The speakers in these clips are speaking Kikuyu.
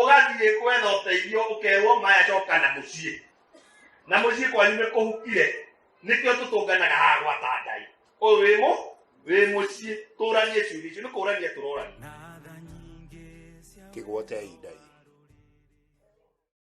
ũgathiĩ kwetha ũteithio ũkerwo maya coka na mũciĩ na mũciĩ kwanyu nĩ kũhukire nĩkĩo tũtũnganaga haha gwata ngai ũyũ wĩ mũ wĩ mũciĩ tũranie ciũria icio nĩ kũrania tũrorania kĩgwotei ndai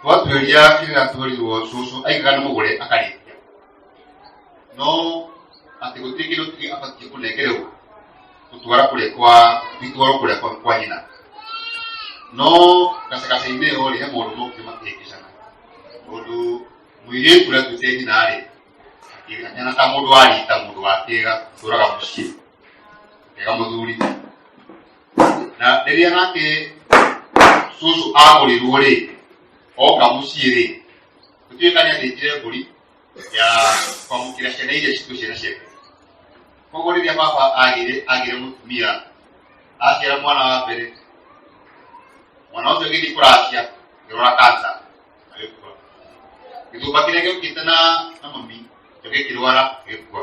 twatuĩria kĩrĩa tuorirwo cũcũ aigaga nĩ mũgũre akarĩkia no atĩ gũtirĩ kĩndũ kĩngĩ abatiĩ kũnengererwo gũtwara kũrĩa kwa gĩtwaro kũrĩa kwa kwa nyina no gacagaca-inĩ ĩyo rĩ he mũndũ mokire makĩhĩngĩcana mũndũ mũirĩtu ũrĩa tuĩte nyina rĩ akĩgana ta mũndũ warita mũndũ wa kĩga tũraga mũciĩ kega mũthuri na rĩrĩa nake cũcũ agũrĩrwo rĩ oka mũciĩ rĩ gũtuĩka nĩ athĩnjire mbũri ya kwamũkĩra ciana iria citũ ciana ciake koguo rĩrĩa baba agĩre agĩre mũtumia aciara mwana wa mbere mwana ũcio gĩthiĩ kũracia ngĩrora kansa agĩkua gĩthumba kĩrĩa gĩũkĩte na na mami gĩkĩrwara gĩkua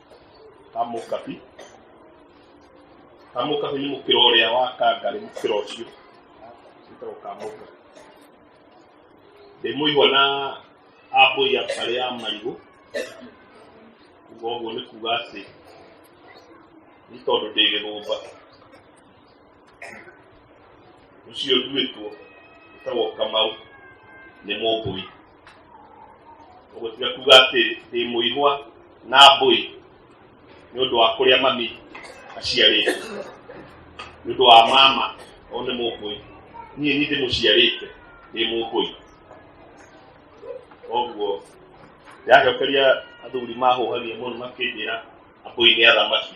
amũkabi amũkabi nĩ mũkĩro ũrĩa wa kangarĩ mũkĩro ũcio wĩtagwo kamũka ndĩmũigua na ambũi akarĩ ya marigũ kuga ũguo nĩ kuga atĩ nĩ tondũ ndĩ gĩthũmba ucio nduĩtwo ũtagwo kamau nĩ mũmbũi ũguo tiga kuga atĩ ndĩ mũihwa na mbũi nĩ ũndũ wa kũrĩa mami aciarĩte nĩ ũndũ wa mama o nĩ mũmbũi niĩ nĩ ndĩmũciarĩte ndĩ mũmbũi koguo ndacokeria athuri mahũhagia mũno makĩnjĩra ambũi nĩ athamaki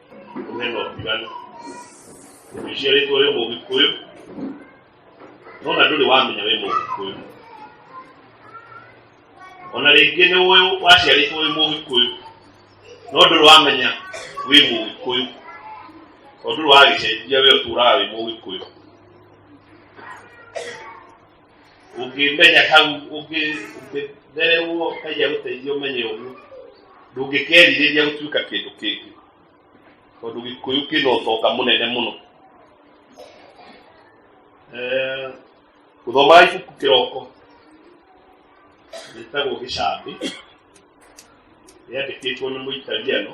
name of Ivan. We share it with Mo Kikuyu. No na nduri wamenya we Mo Kikuyu. Ona rĩngĩ nĩ ũĩ waciarĩtwo wĩ Mo Kikuyu. No ndũrĩ wamenya wĩ Mo Kikuyu. Tondũ ndũrĩ wagĩcenjia wĩ ũtũũraga wĩ Mo Kikuyu. ũngĩmenya hau ũngĩ- ũngĩ- mbere ũguo ngai agũteithia ũmenye ũguo ndũngĩkerirĩria gũtuĩka kĩndũ kĩngĩ tondũ gĩkũyũ kĩna ũtonga mũnene mũno Eh, gũthomaga ibuku kĩroko rĩtagwo gĩcambĩ rĩandĩkĩtwo nĩ mũitaliano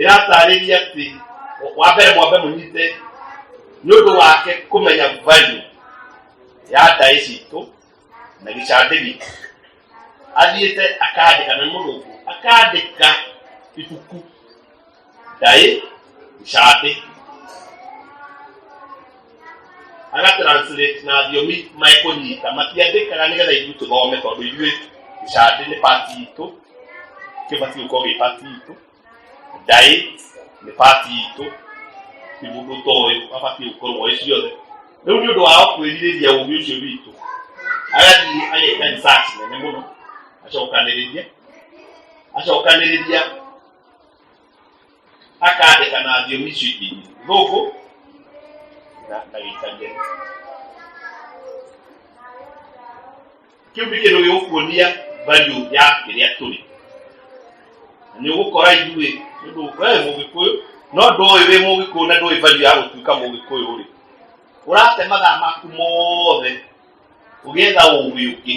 ĩratarĩria atĩ wa mbere mwambe mũnyite nĩ ũndũ wake kũmenya value ya ndaĩ citũ na gĩcandĩ gitũ athiĩte akandĩka na mũrũngũ akandĩka ibuku ndaĩ gĩcandĩ agatranslate na thiomi mekũnyita matiandĩkaga nĩgetha ithuĩ tũthome tondũ ithuĩ gĩcandĩ nĩ pati itũ kĩbatiĩ gũkorwo gĩ pati itũ ndaĩ nĩ pati itũ ti mũndũ toĩ abatiĩ gũkorwo ĩ ciothe rĩu nĩ ũndũ wao kwĩrirĩria ũgĩ ũcio witũ agathiĩ ageka research nene mũno acokanĩrĩria acokanĩrĩria akandĩka na thiomi icio ingĩ gũkũ na agĩikaria kĩu nĩ kĩndũ gĩgũkuonia value ya kĩrĩa tũrĩ na nĩ ũgũkora ithuĩ nĩũndũ we mũgĩkũyũ no ndũĩ wĩ mũgĩkũyũ na ndũĩ value ya gũtuĩka mũgĩkũyũ rĩ ũrate mathaa maku mothe ũgĩetha ũgĩ ũngĩ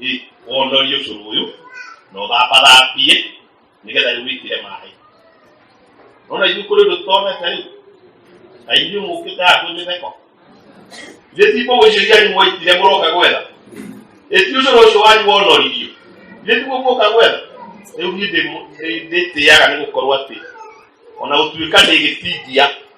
ĩ wonorie ũcũrũ ũyũ na ũthambathambie nĩgetha rĩu wĩkire maĩ nona ithuĩ kũrĩ ũndũ tũtonete rĩu na ithuĩ mũkĩte haha kwĩ mĩtheko ithe ti mbũgũ icio iria nyumoitire mũroka gwetha ĩti ũcũrũ ũcio wanyu wonoririo ithe ti gũkũka gwetha rĩu niĩ ndĩmu- ndĩ- ndĩtĩaga nĩ gũkorwo atĩ ona gũtuĩka ndĩgĩtindia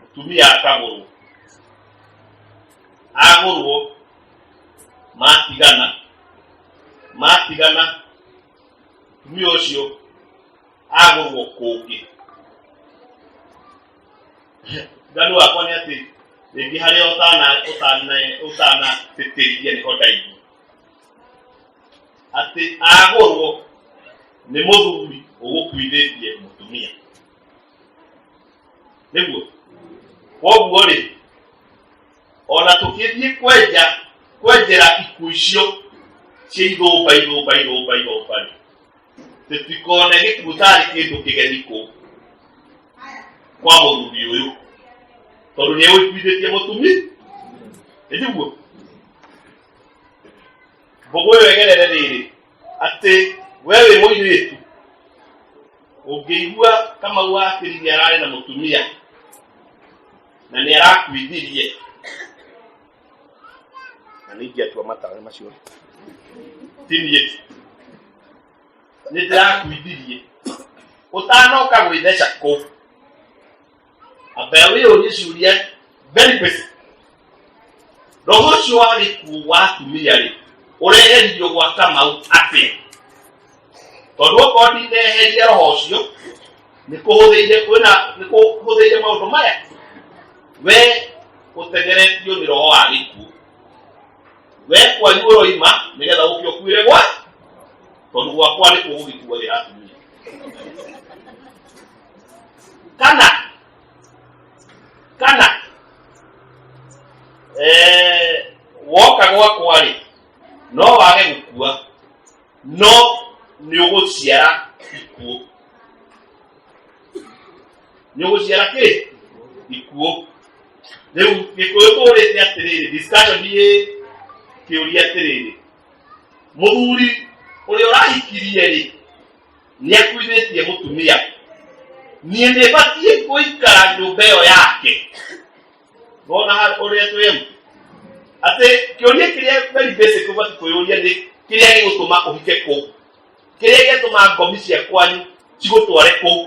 mũtumia akagũrwo agũrwo matigana matigana mũtumia ũcio agũrwo kũngĩ nganu wakwa nĩ atĩ rĩngĩ harĩa ũtana ũtana ũtana tĩtĩria nĩho ndaigua atĩ agũrwo nĩ mũthuri ũgũkuithĩtie mũtumia nĩguo koguo rĩ ona tũkĩthiĩ kwenja kwenjera iku icio cia ithũmba ithũmba ithũmba ithũmba rĩ tũtikone gĩkuũ tarĩ kĩndũ kĩgeni kũ kwa mũthuri ũyũ tondũ nĩ ũiguithĩtie mũtumi nĩguo mbũgũ ĩyo ĩgerere rĩrĩ atĩ we wĩ mũirĩtu ũngĩigua kamau wakĩrithia ararĩ na mũtumia na nĩ arakuithirie na nĩ ingĩatua matawe macio tinie nĩ ndĩrakuithirie ũtanoka gwĩtheca kũ Abewe onyisuria very busy. Roho ũcio wa gĩkuũ wa atumia-rĩ, ũreheririo gwa Kamau atĩa? Tondũ okorwo ndineheria roho ũcio, nĩ kũhũthĩire kwĩna nĩ kũhũthĩire maũndũ maya. We ũtegeretio nĩ roho wa gĩkuũ. We kwanyu ũroima nĩgetha ũke ũkuĩre gwa tondũ gwakwa nĩ kũgũgĩkuagĩra atumia. kana kana eh woka gwakwa rĩ no wage gũkua no nĩ ũgũciara ikuũ nĩ ũgũciara kĩ ikuũ rĩu gĩkũyũ tũrĩte atĩrĩrĩ discussion yĩ kĩũria atĩrĩrĩ mũthuri ũrĩa ũrahikirie rĩ nĩ akuithĩtie mũtumia niĩ nĩ batiĩ gũikara nyũmba ĩyo yake wona ha- ũrĩa twĩ mbu atĩ kĩũria kĩrĩa very basic ũbatiĩ kwĩyũria nĩ kĩrĩa gĩgũtũma ũhike kũu kĩrĩa gĩatũma ngomi cia kwanyu cigũtware kũu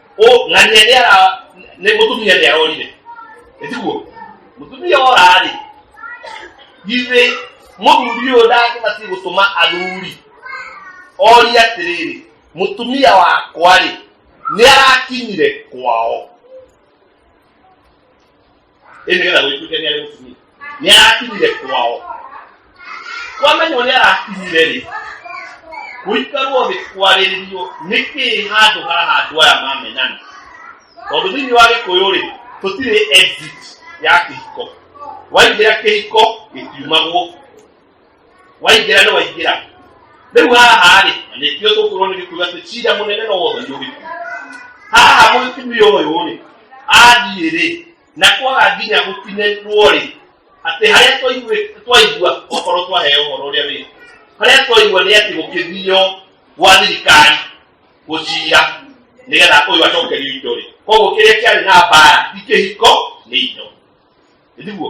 Ũ, na nĩ nĩ ara nĩ mũtumia nĩ arorire ĩtiguo mũtumia ora-rĩ githĩ mũthuri ũyũ ndangĩbatiĩ gũtũma athuri orie atĩrĩrĩ mũtumia wakwa-rĩ nĩ arakinyire kwao Hii ni kana wetu kenya leo tumi. Ni akili ile kwao. Kwamba ni wale akili ile. Kuikarwo ni kwarĩrĩrio nĩkĩ handũ haha andũ aya mamenana tondũ thĩinĩ wa gĩkũyũ rĩ tũtirĩ exit ya kĩhiko waingĩra kĩhiko gĩtiumagwo waingĩra nĩ waingĩra rĩu haha rĩ na nĩ ithuĩ tũkorwo nĩ gĩkuga atĩ cira mũnene no wothe nĩ ũgĩkuga haha mũtumia ũyũ rĩ athiĩ rĩ na kwaga nginya gũtinĩrwo rĩ atĩ harĩa twaigua- twaigua okorwo twaheo ũhoro ũrĩa wĩ harĩa twaigua nĩ atĩ gũkĩthio gwa thirikari gũcira nĩgetha ũyũ acokerio indo rĩ koguo kĩrĩa kĩarĩ na mbara ti kĩhiko nĩ indo nĩguo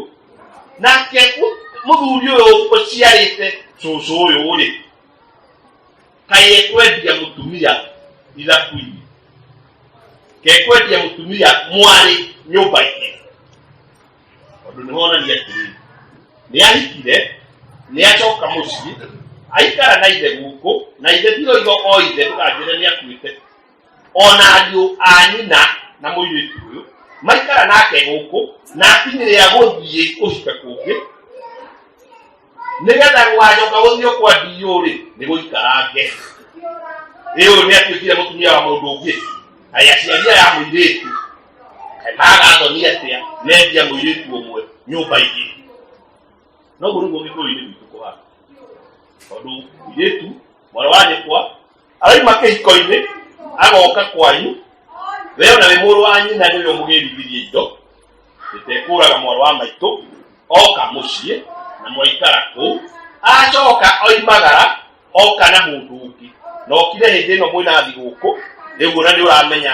nake mu- mũthuri ũyũ ũciarĩte cũcũ ũyũ rĩ kaĩ ekwendia mũtumia ithaku-inĩ kekwendia mũtumia mwarĩ nyũmba-inĩ tondũ nĩ honania atĩrĩ nĩ ahikire nĩ acoka mũciĩ aikara na ithe gũkũ na ithe tiroiga o ithe ndũkanjĩre nĩ akuĩte ona ariũ a nyina na mũirĩtu ũyũ maikara nake gũkũ na akinĩ rĩa gũthiĩ kũhika kũngĩ nĩgetha gwacoka gũthiĩ kwa ndiũ rĩ nĩ gũikarange ĩ ũyũ nĩ atuĩkire mũtumia wa mũndũ ũngĩ aya aciari aya mũirĩtu magathoni atĩa nendia mũirĩtu ũmwe nyũmba ingĩ noguo nĩguo gĩkũyũ-inĩ gwitũ kũhana tondũ mũirĩtu mwarĩ wa nyũkwa araima kĩhiko-inĩ agoka kwanyu we ona wĩ mũrũ wa nyina nĩ ũrĩa mũgĩrithithie indo gĩtekũraga mwarũ wa maitũ oka mũciĩ na mwaikara kũu acoka oimagara oka na mũndũ ũngĩ na okire hĩndĩ ĩno mwĩnathi gũkũ rĩu ona nĩ ũramenya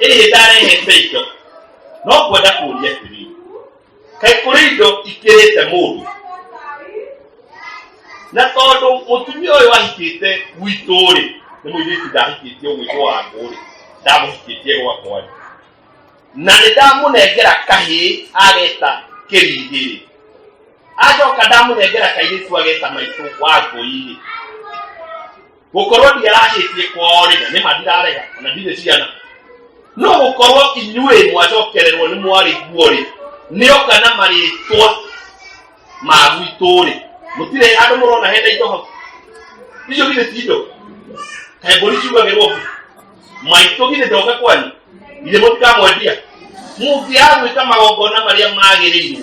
Eye dare he peido. No kwenda kuria tiri. Kai kuri indo ikirite mundu. Na tondu mutumia uyu ahikite gwitu ri, ni muiritu ndahikitie gwitu waku ri, ndamuhikitie gwakwa ri. Na nĩ ndamunengera kahĩ ageta kĩrigĩrĩ acoka ndamunengera kairĩtu ageta maitũ wa ngũi-rĩ gũkorwo ndiarahĩtie kwao rĩna nĩ ma ndirarega ona ndirĩ ciana no gũkorwo inyuĩ mwacokererwo nĩ mwarĩ guo-rĩ nĩoka na marĩtwa ma gwitũ-rĩ mũtirĩ andũ mũrona hena indo hau icio githĩ ti indo kaĩ mbũri ciugagĩrwo mbu maitũ githĩ ndoka kwanyu githĩ mũtikamwendia mũngĩagwĩka magongona marĩa magĩrĩirwo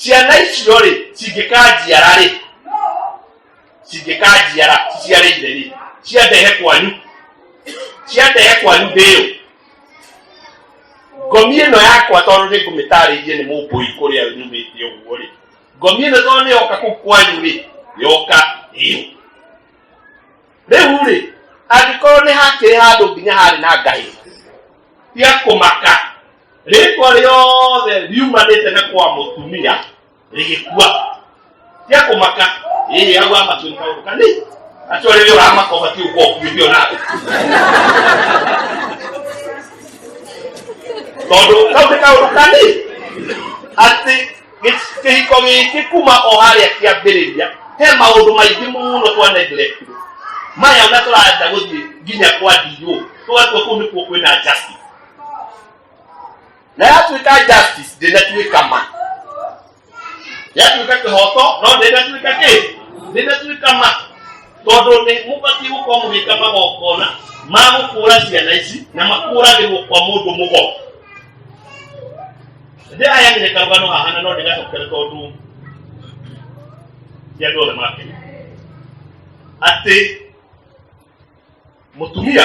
ciana icio rĩ cingĩkanjiara rĩ cingĩkanjiara ciciarĩire rĩ ciandehe kwanyu ciandehe kwanyu ndĩyo ngomi ĩno yakwa tondũ nĩ ngũmĩtarĩirie nĩ mũmbũi kũrĩa nyumĩte ũguo rĩ ngomi ĩno tondũ nĩ yoka kũu kwanyu rĩ yoka ĩyo rĩu rĩ angĩkorwo nĩ hakĩrĩ handũ nginya harĩ na ngai cia kũmaka rĩtwa rĩothe riumanĩte nĩ kwa mũtumia rĩgĩkua cia kũmaka ĩĩ au amatuĩka kaũndũ kanini acio rĩrĩa ũramaka ũbatiĩ gũkorwo ũkuithio nawe tondũ kau nĩ kaũndũ kanini atĩ gĩ- kĩhiko gĩkĩ kuma o harĩa kĩambĩrĩria he maũndũ maingĩ mũno twanenderekire maya ona tũranja gũthiĩ nginya kwa ndiũ tũgatua kũu nĩkuo kwĩna justice naye atuĩka justice ndĩnatuĩka ma yatuĩka kĩhoto no ndĩnatuĩka kĩ ndĩnatuĩka ma tondũ nĩ mũbatiĩ gũkorwo mũgĩka magongona ma gũkũra ciana ici na makũragĩrwo kwa mũndũ mũgo ndĩ aya nĩ karũgano haha na no ndĩgacokere tondũ ti andũ othe makenya atĩ mũtumia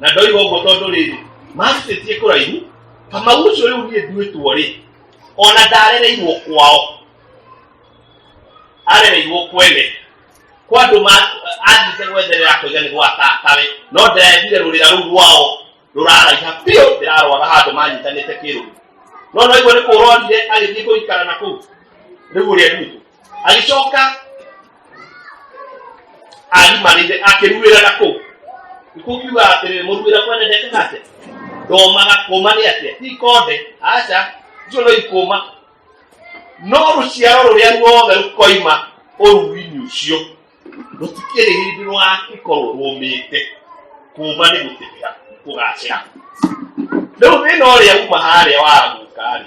na ndoiga ũguo tondũ rĩrĩ macitĩtie kũraihu kamau ũcio rĩu niĩ nduĩtwo rĩ ona ndarereirwo kwao arereirwo kwene kwa andũ ma- athiĩte gwetherera kũiga nĩ gwa tatawe no ndĩrethire rũrĩra rũu rwao rũraraiha biũ ndĩrarwara handũ manyitanĩte kĩrũru no no igua nĩ kũrorire agĩthiĩ kũikara na kũu rĩu ũrĩa nduĩtwo agĩcoka agimanĩte akĩruĩra na kũ nĩkũkiuga atĩrĩrĩ mũruĩra kwenendete nake ndomaga kũma nĩ atĩa ikonde aca icio no ikũma no rũciaro rũrĩa ruothe rũkoima ũruinĩ ũcio rũtikĩrĩ hĩndĩ rwagĩkorwo rũmĩte kũma nĩ gũtĩmĩra kũgacĩra rĩu thĩna ũrĩa uma harĩa waguka rĩ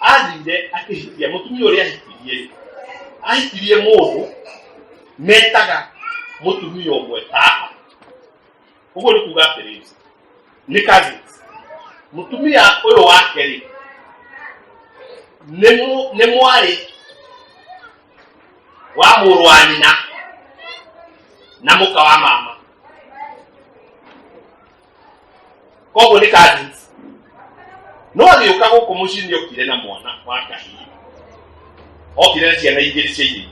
athire akĩhikia mũtumia ũrĩa ahikirie ahikirie mũndũ metaga mũtumia ũmwe tata ũguo nĩ kuga atĩrĩ nĩ kazi mũtumia ũyũ wake rĩ nĩ mwarĩ wa mũrũ wa nyina na mũka wa mama koguo nĩ kadins no agĩũka gũkũ mũciĩ nĩ okire na mwana wa kahii okire na ciana igĩrĩ cia irĩki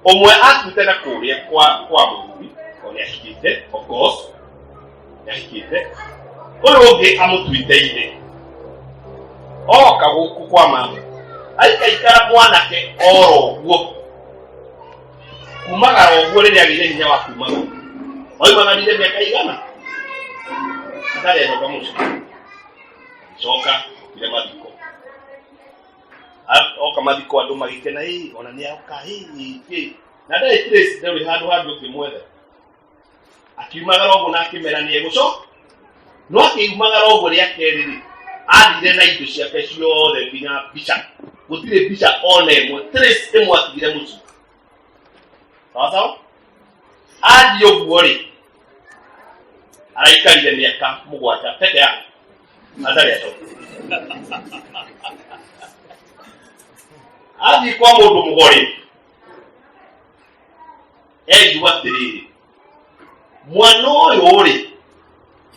ũmwe akuĩte na kũrĩa kwa kwa mũthuri ũrĩa ahikĩte of course nĩahikĩte ũyũ ũngĩ amũtuĩte irĩ oka gũkũ kwa mama aikaikara mwanake oro ũguo kumaga o ũguo rĩrĩa agĩire hinya wa kumaga waimananire mĩaka igana atarĩ enoka mũciĩ coka ire mathiko A- oka mathiko andũ magĩkena ĩ ona nĩ aoka ĩ ĩ, ĩ na ndarĩ trace ndarĩ handũ hangĩ ũngĩmwetha akiumagara ũguo na akĩmera nĩ egũcoka no akĩumagara ũguo rĩa kerĩ rĩ athire na indo ciake ciothe nginya mbica gũtirĩ mbica ona ĩmwe trace ĩmwe atigire mũciĩ sawa sawa athiĩ ũguo rĩ araikarire mĩaka mũgwanja peke yake atarĩ acoka athiĩ kwa mũndũ mũgori engiuga atĩrĩrĩ mwana ũyũ rĩ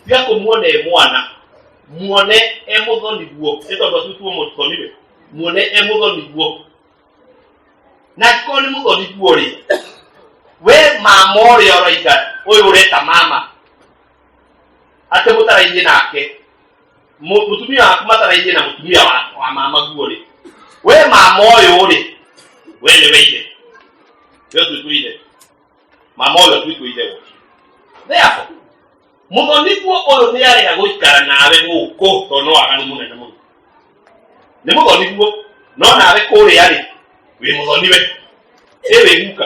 tiga kũmuona e mwana muone e mũthoniguo nĩ tondũ atutuo mũthoniwe muone e mũthoniguo na angĩkorwo nĩ mũthoniguo rĩ we mama ũrĩa ũraiga ũyũ ũreta mama atĩ mũtarainie nake Mu- mutumia waku mataraithie na mutumia wa, wa mama guo rĩ we mama ũyũ rĩ we nĩ weire we twĩtwĩire mama ũyũ twĩtwĩire gũkĩ therefore mũthonithio ũyũ nĩ arega gũikara nawe gũkũ tondũ nĩ waganu mũnene mũno nĩ mũthonithio no nawe kũrĩa rĩ wĩ mũthoniwe ĩ wĩ guka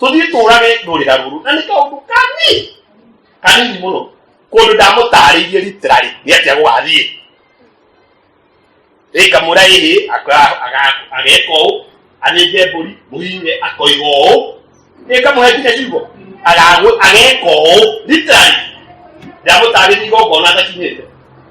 tũthiĩ tũũrage rũrĩra rũrũ na nĩ kaũndũ kanini kanini mũno kũndũ ndamũtaarĩirie riterarĩ nĩ atĩa gũgathiĩ rĩngamũra ĩhĩ ageka ũũ athĩnje mbũri mũhihinye akoiga ũũ rĩngamũhe nginya ciugo ageka ũũ riterarĩ ndamũtaarĩirie igongona atakinyĩte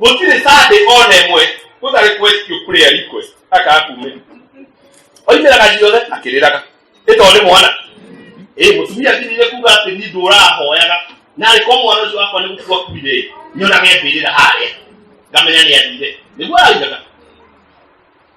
gũtirĩ sande ona ĩmwe gũtarĩ kwestio kũrĩa request akakumĩra oimĩraga ciothe akĩrĩraga ĩtoo nĩ mwana ĩ mũtumia athirire kuga atĩ ni ndũrahoyaga na arĩkorwo mwana ũcio wakwa nĩ gũkua kuire nyonage mbĩrĩra harĩa ngamenya nĩ athire nĩguo araugaga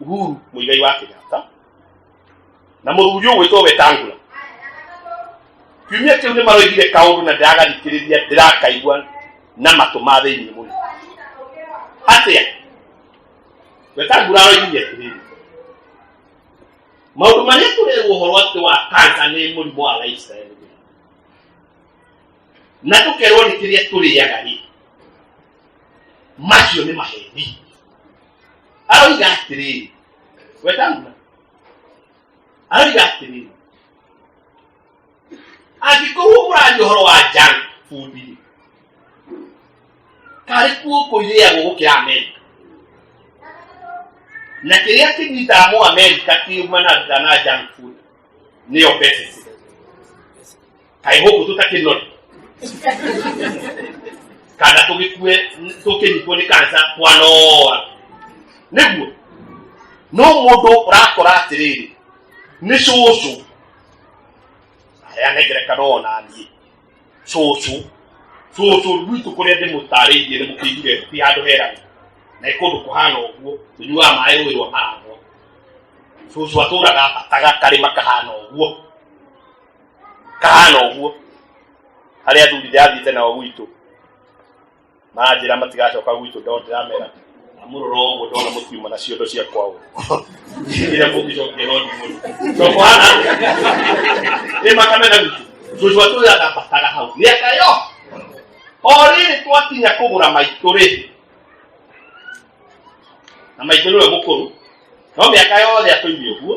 uhuru muigai wa kenyatta na mũthuri ũyũ gwĩtwo wetangula kiumia kĩu nĩ maroigire kaũndũ na ndĩragathikĩrĩria ndĩrakaigua na matũ ma thĩinĩ mũno atĩa wetangula aroigire atĩrĩrĩ maũndũ marĩa tũrerwo ũhoro atĩ wa kansa nĩ mũrimũ wa lifestyle na tũkerwo nĩ kĩrĩa tũrĩaga rĩ macio nĩ maheni aroiga atĩrĩrĩ wetangura aroiga atĩrĩrĩ angĩkorwo mũraria ũhoro wa junk food rĩ karĩ kuo kũirĩagwo gũkĩra amerika na kĩrĩa kĩnyitaga mũ amerika kiumanaga na junk food nĩyo pesa kai ho kutu ta kenon kana to ke kue to ke ni koni kansa kwa noa nebu no modo rakora atiriri ni cucu ayanegireka nonanie cucu cucu rwitu kuria ndimutariirie ni mukiigire ti handu herani na ikundu kuhana uguo tunyuaga maĩ rũĩ rwa maragwa cucu atũraga abataga karĩma kahana ũguo kahana ũguo harĩa athurithe athiĩte nao gwitũ manjĩra matigacoka gwitũ ndo ndĩramera amũrora ũguo ndona mũkiuma na ciondo cia kwao ĩrĩa mũngĩcokia no ndimũri cokohana nĩ makamena gwitũ tũcua tũyagambataga hau mĩaka yo o rĩrĩ twakinya kũgũra maitũ rĩ na maitũ nĩwe mũkũrũ no mĩaka yothe atũirie ũguo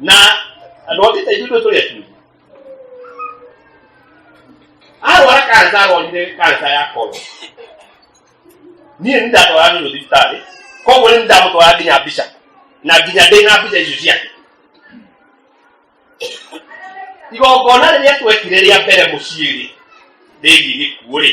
na alwagita ithuĩ tũrĩa tu arwara kansa arwarire kansa ya koro niĩ nĩ ndatwara nĩ thibitarĩ koguo nĩ ndamũtwara nginya mbica na nginya ndĩ na mbica icio ciake igongona rĩrĩa twekire rĩa mbere mũciĩ-rĩ rĩgiĩ gĩkuũ-rĩ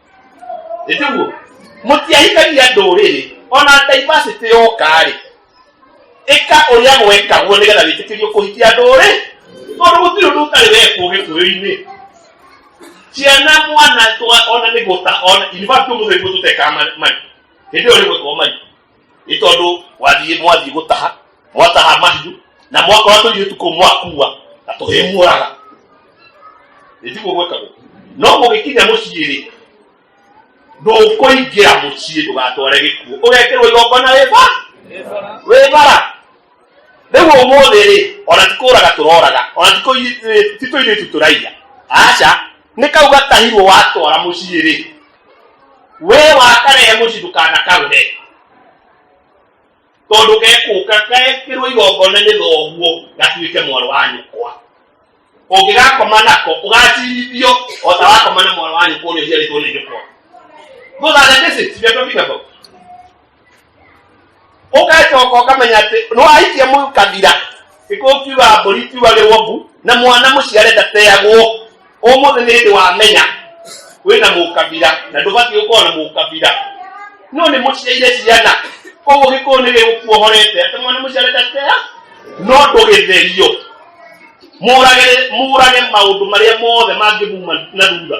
ĩtiguo mũtiahikagia ndũrĩrĩ ona diversity yokarĩ ĩka ũrĩa gwekagwo nĩgetha wĩtĩkĩrio kũhikia ndũrĩ tondũ gũtirĩ ũndũ ũtarĩ wekwo gĩkũyũ-inĩ ciana mwana ona nĩ gũta ona university mũthembu tũtekaga mari hĩndĩ ĩyo rĩgwĩkwo mari nĩ tondũ wathiĩ mwathiĩ gũtaha mwataha mahiũ na mwakora tũirĩtu kũu mwakua na tũhĩmuoraga nĩtiguo gwĩkagwo no mũgĩkinya mũciĩ rĩ ndũkũingĩra mũciĩ ndũgatware gĩkuũ ũgekĩrwo igongona wĩba wĩbara rĩu ũmũthĩ rĩ ona tikũraga tũroraga ona tikũirĩtu tũraiya aca nĩ kau gatahirwo watwara mũciĩ rĩ we wakaree mũcindũkana karũre tondũ gekũka gekĩrwo igongona nĩ thoguo gatuĩke mwarĩ wa nyũkwa ũngĩgakoma nako ũgacirithio o ta wakoma na mwarĩ wa nyũkwa ũrĩa ũciarĩtwo nĩ nyũkwa those are the basics we are talking about ũgacoka ũkamenya atĩ nĩwaikia mũu kabira ĩkũkiuga mbũri tiuga rĩ wombu na mwana mũciare ndateagwo ũmũthĩ nĩ hĩndĩ wamenya wĩna mũkabira na ndũbatiĩ gũkorwo na mũkabira no nĩ mũciaire ciana koguo gĩkũyũ nĩ gĩgũkuohorete atĩ mwana mũciare ndatea no ndũgĩtherio mũrage mũrage maũndũ marĩa mothe mangĩmuma na thutha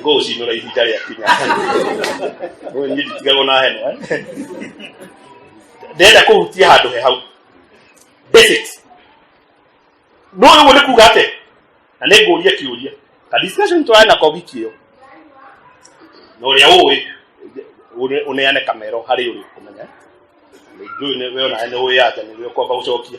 ngoucinũra ihinda rĩa kinya ũyũ niĩ nditigagwo na heno eh? ndĩrenda kũhutia handũ he hau basic no ũguo nĩ kuga atĩ na nĩ ngũria kĩũria ka discussion twae na kobiki ĩyo na ũrĩa ũĩ ũne- ũneane kamero harĩ ũrĩ kũmenya njũĩ nĩ we onae nĩ ũĩ anja nĩ we ũkwamba gũcokia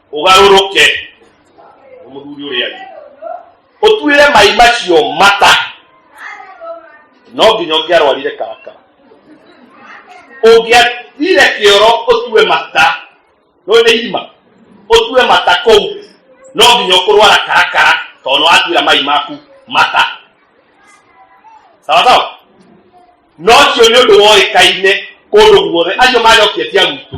ũgarũrũke mũthuri ũrĩa angĩ ũtuĩre mai macio mata no nginya ũngĩarwarire karakara ũngĩatire kĩoro ũtue mata no nĩ irima ũtue mata kũu no nginya ũkũrwara karakara tondũ watuĩra mai maku mata sawa sawa no ũcio nĩ ũndũ woĩkaine kũndũ guothe acio majokia cia gwitũ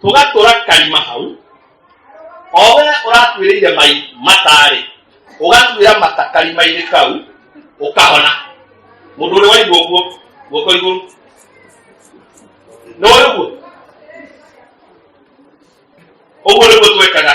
tũgatũra karima hau owe ũratuĩrĩire mai matarĩ ũgatuĩra mata karima-inĩ kau ũkahona mũndũ ũrĩa waigua ũguo guoko igũrũ nĩ ũguo ũguo nĩguo twekaga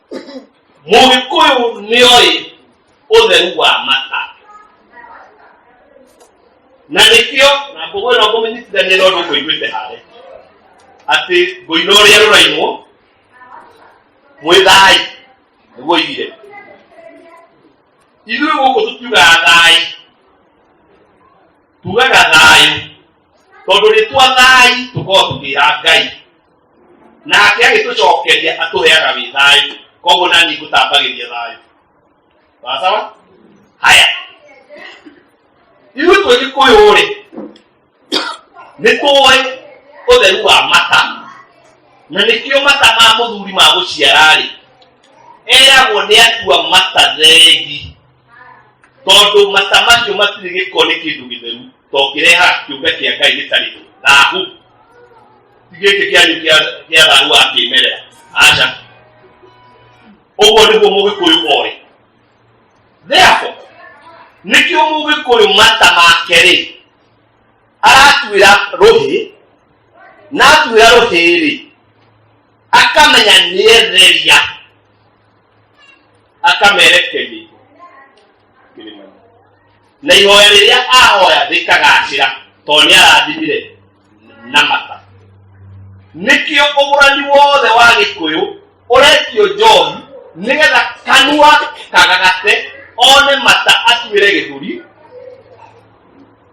mũgĩkũyũ nĩoĩ ũtheru wa mata na nĩkĩo na ngũgũ ĩno ngũmĩnyitithania na ũndũ ngũiguĩte harĩ atĩ ngũina ũrĩa rũrainwo mwĩ thai nĩguo igire ithuĩ gũkũ tũtiugaga thai tugaga thayũ tondũ rĩtwa thai tũkorwo tũkĩra ngai nake agĩtũcokeria atũheaga wĩ thayũ koguo nani ngũtambagĩria thayũ wasawa haya ithuĩ twĩ gĩkũyũ rĩ nĩ tũĩ ũtheru wa mata na nĩkĩo mata ma mũthuri ma gũciara rĩ eragwo nĩ atua mata thegi tondũ mata macio matirĩ gĩko nĩ kĩndũ gĩtheru tũngĩreha kĩũmbe kĩa ngai gĩtarĩ thahu ti gĩkĩ kĩanyu kĩa thahu wa kĩmerera aca ũguo nĩguo mũgĩkũyũ oĩ therefore nĩkĩo mũgĩkũyũ mata make rĩ aratuĩra rũhĩ na atuĩra rũhĩ rĩ akamenya nĩetheria akamerekeria na ihoya rĩrĩa ahoya rĩkagacĩra tondũ nĩ arathimire na mata nĩkĩo ũgũrani wothe wa gĩkũyũ ũretio njohi nĩgetha kanua kagagate one mata atuĩre gĩthũri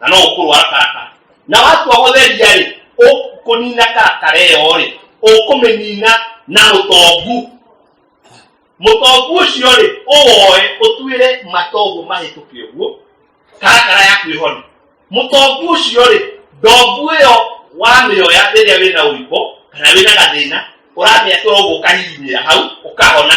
na no ũkũrwa karaka na watua gũtheria rĩ ũkũnina karakara ĩyo rĩ ũkũmĩnina na mũtongu mũtongu ũcio rĩ ũwoe ũtuĩre matongu mahĩtũke ũguo karakara yaku ĩhone mũtongu ũcio rĩ ndongu ĩyo wamĩoya rĩrĩa wĩna ũimbo kana wĩna gathĩna ũramĩatũra ũguo ũkahihinyĩra hau ũkahona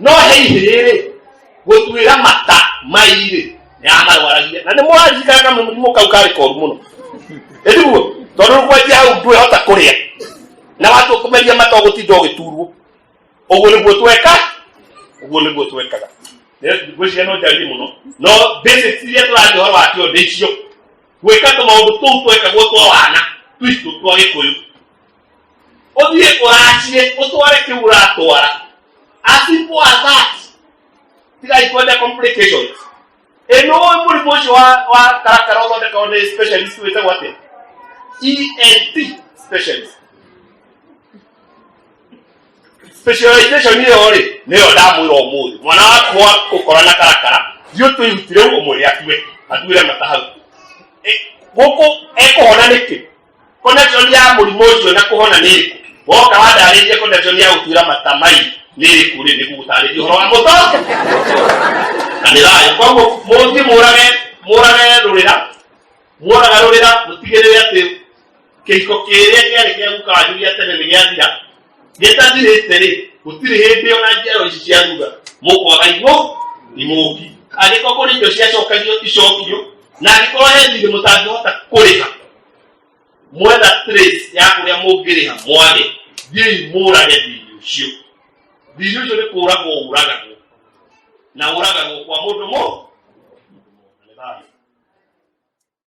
no he ihĩĩ rĩ gũtuĩra mata mairĩ nĩ amarwaragia na nĩ mũranjikana na mũrimũ kau karĩ koru mũno ĩriguo tondũ kwendia hau ndwĩhota kũrĩa na watu kũmeria mata ũgũtinda ũgĩturwo ũguo nĩguo tweka ũguo nĩguo twekaga ngwĩciria no njarie mũno no basics iria tũraria ũhoro wakĩo ndĩ icio gwĩka tũmaũndũ tũu twekagwo twa wana twitũ twa gĩkũyũ ũthiĩ ũraciĩ ũtware kĩu ũratwara as simple as that tigai kwenda complications ĩno mũrimũ ũcio wa wa karakara ũthondekagwo nĩ specialist wĩtagwo atĩa ENT specialist specialization ĩyo rĩ nĩyo ndamwĩra ũmũthĩ mwana waku wa gũkora na karakara thiĩ ũtũ ihutire ũmwĩre akue athuure mata hau Ĩ, gũkũ ekũhona nĩkĩ connection ya mũrimũ ũcio na kũhona nĩ ĩrĩkũ woka wandarĩrie connection ya gũtuĩra mata mai nĩ ĩrĩkũ rĩ nĩ gũgũtarĩria ũhoro wa mũto na nĩ rayo koguo mũthiĩ mũrage mũrage rũrĩra muonaga rũrĩra mũtigĩrĩre atĩ kĩhiko kĩrĩa kĩarĩ kĩa guka wanyu gĩa tene nĩ gĩathira Nĩtati rĩtĩrĩ, gũtirĩ hĩndĩ ona njiaro ici cia thutha mũkwaga igũ imũki. Angĩkorwo kũrĩ indo ciacokagio icokio, na angĩkorwo he thirĩ mũtangĩhota kũrĩha, mwetha trace ya kũrĩa mũngĩrĩha mwage, thiĩi mũũrage thirĩ ũcio. Thirĩ ũcio nĩ kũũragwo ũũragagwo, na ũũragagwo kwa mũndũ mũ